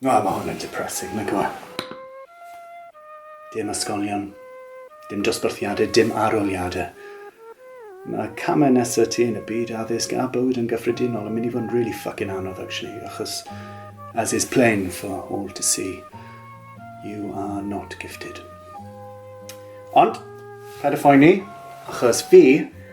Na, mae hwn yn depressing, nag yw e? Dim ysgolion, dim dosbarthiadau, dim arholiadau. Mae camau nesaf ti yn y byd addysg a bywyd yn gyffredinol yn mynd i fod yn really fucking anodd actually, achos as is plain for all to see, you are not gifted. Ond, paid â phoeni, achos fi,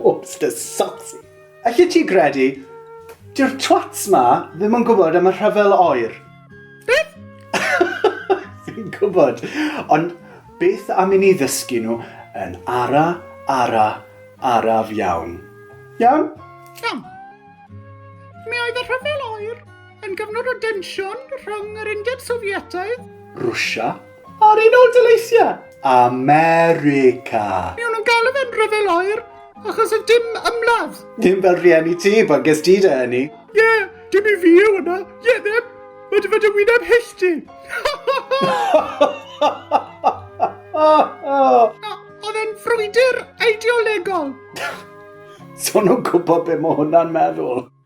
Whoops, dy socks. Allet ti gredu, dy'r twats ma ddim yn gwybod am y rhyfel oer. Beth? Fi'n gwybod, ond beth am i ni ddysgu nhw yn ara, ara, araf iawn. Iawn? Iawn. Mi oedd y rhyfel oer yn gyfnod o densiwn rhwng yr Undeb Sofietaidd... Rwsia? Ar un ôl dyleisiau America. Miwn nhw'n galw fe'n rhyfel oer, achos y dim ymladd. Dim fel rhieni ti, pan ges ti dy eni. Ie, yeah, dim i fi yw yna. Ie, yeah, ddim. Mae dy fod y wyneb hyll ti. Oedd e'n frwydr eideolegol. Son nhw'n gwybod beth mae hwnna'n meddwl.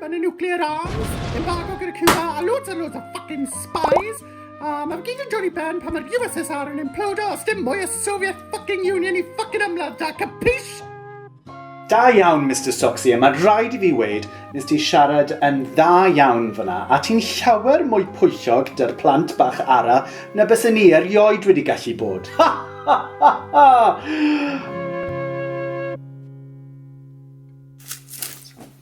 Mae'n y nuclear arms, embargo gyda Cuba, a loads a loads of fucking spies. A mae'n gyd yn dod i ben pan mae'r USSR yn implodo os dim mwy o Soviet fucking Union i fucking ymladd da, capish? Da iawn, Mr Soxy, a mae'n rhaid i fi weid, nes ti siarad yn dda iawn fyna, a ti'n llawer mwy pwyllog dy'r plant bach ara na bys ni erioed wedi gallu bod. Ha, ha, ha, ha!